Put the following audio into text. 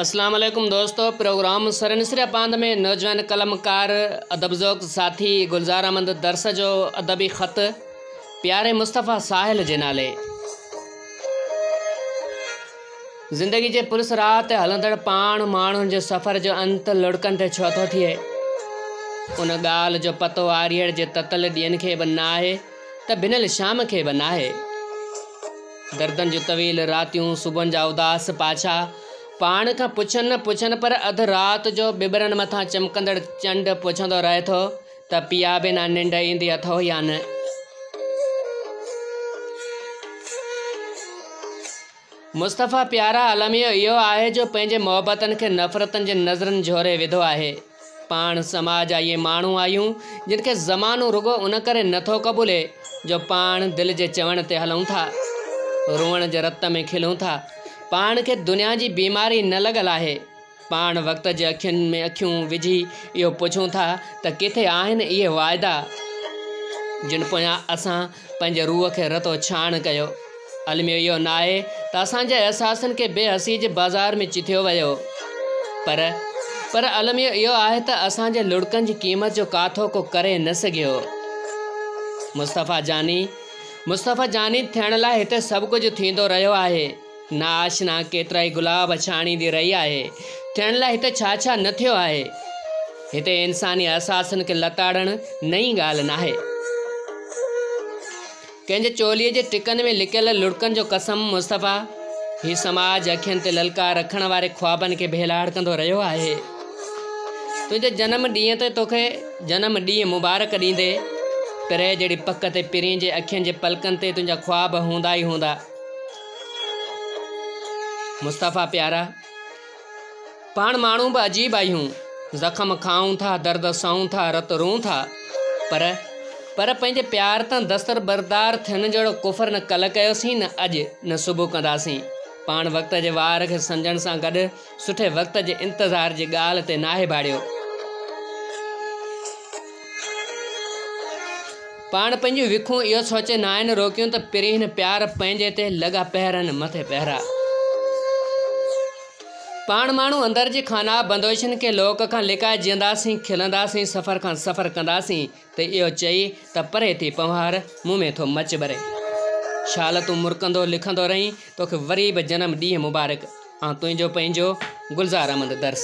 اسلام عليڪم دوستو پروگرام سرنسريا پاند ۾ نوجوان قلمڪار ادب ذوق ساٿي گلزار احمد درس جو ادبي خط پياري مصطفيٰ ساحل جي نالي زندگي جي پلس راهه تي هلندڙ پاڻ ماڻهن جي سفر جو انت لڙڪن تي ڇو ٿو ٿئي ان ڳالهه جو پتو آريڙ جي تتل ڏينهن کي به ناهي ته ڀنل شام کي به ناهي. دردن جون طويل راتيون، صبحن جا اداس پاڇا، پاڻ کان پڇن نه پڇن پر اڌ رات جو ٻٻرن مٿان چمڪندڙ چنڊ پڇندو رهي ٿو ته پيا بنا ننڊ ايندي اٿئو يا نه؟ مصطفيٰ پيارا الميو اهو آهي جو پنهنجي محبتن کي نفرتن جي نظرن جهوري وڌو آهي. پاڻ سماج جا اهي ماڻهو آهيون جن کي زمانو رڳو ان ڪري نه ٿو قبولي جو پاڻ دل جي چوڻ تي هلون ٿا. روئڻ جي رت ۾ کلون ٿا. پاڻ کي دنيا جي بيماري نه لڳل آهي. پاڻ وقت جي اکين ۾ اکيون وجهي اهو پڇون ٿا ته ڪٿي آهن اهي واعدا جن پويان اسان پنهنجي روح کي رتو ڇاڻ ڪيو. الميو اهو ناهي ته اسان جي احساسن کي بي حسي جي بازار ۾ چٿيو ويو پر پر الميو اهو آهي ته اسان جي لڙڪن جي قيمت جو ڪاٿو ڪو ڪري نه سگهيو. مصطفيٰ جاني مصطفيٰ جاني ٿيڻ لاء هتي سڀ ڪجهه ٿيندو رهيو آهي. نا آشنا ڪيترائي گلاب ڇاڻي دي رهي آهي ٿيڻ لاء هتي ڇا ڇا نه ٿيو آهي هتي انساني احساسن کي لتاڙڻ نئين ڳالهه ناهي ڪنهن جي چولي جي ٽڪن ۾ لڪيل لڙڪن جو قسم مصطفيٰ هي سماج اکين تي للڪار رکڻ واري خوابن کي ڀيلاڙ ڪندو رهيو آهي تنهنجي جنم ڏينهن تي توکي جنم ڏينهن مبارڪ ڏيندي پري جهڙي پڪ تي پرين جي اکين جي پلڪن تي تنهنجا خواب هوندا ئي هوندا مصطفيٰ پيارا! پاڻ ماڻهو به عجيب آهيون، زخم کائون ٿا، درد سهون ٿا، رت روئون ٿا، پر پر پنهنجي پيار تان دستبردار ٿيڻ جهڙو ڪفر نه ڪلهه ڪيوسين، نه اڄ، نه صبح ڪنداسين. پاڻ وقت جي وار کي سمجهڻ سان گڏ سٺي وقت جي انتظار جي ڳالهه تي ناهي ڀاڙيو. پاڻ پنهنجون وکون اهو سوچي ناهن روڪيون ته پرينء پيار پنهنجي تي لڳا پهرن مٿي پهرا. پاڻ ماڻهو اندر جي خانابندوشن کي لوڪ کان لڪائي جيئنداسين کلنداسين سفر کان سفر ڪنداسين ته اهو چئي ته پري ٿي پنهوار، مون ۾ ٿو مچ ٻري. شال تون مرڪندو لکندو رهين، توکي وري به جنم ڏينهن مبارڪ. آن تنهنجو پنهنجو، گلزار احمد درس.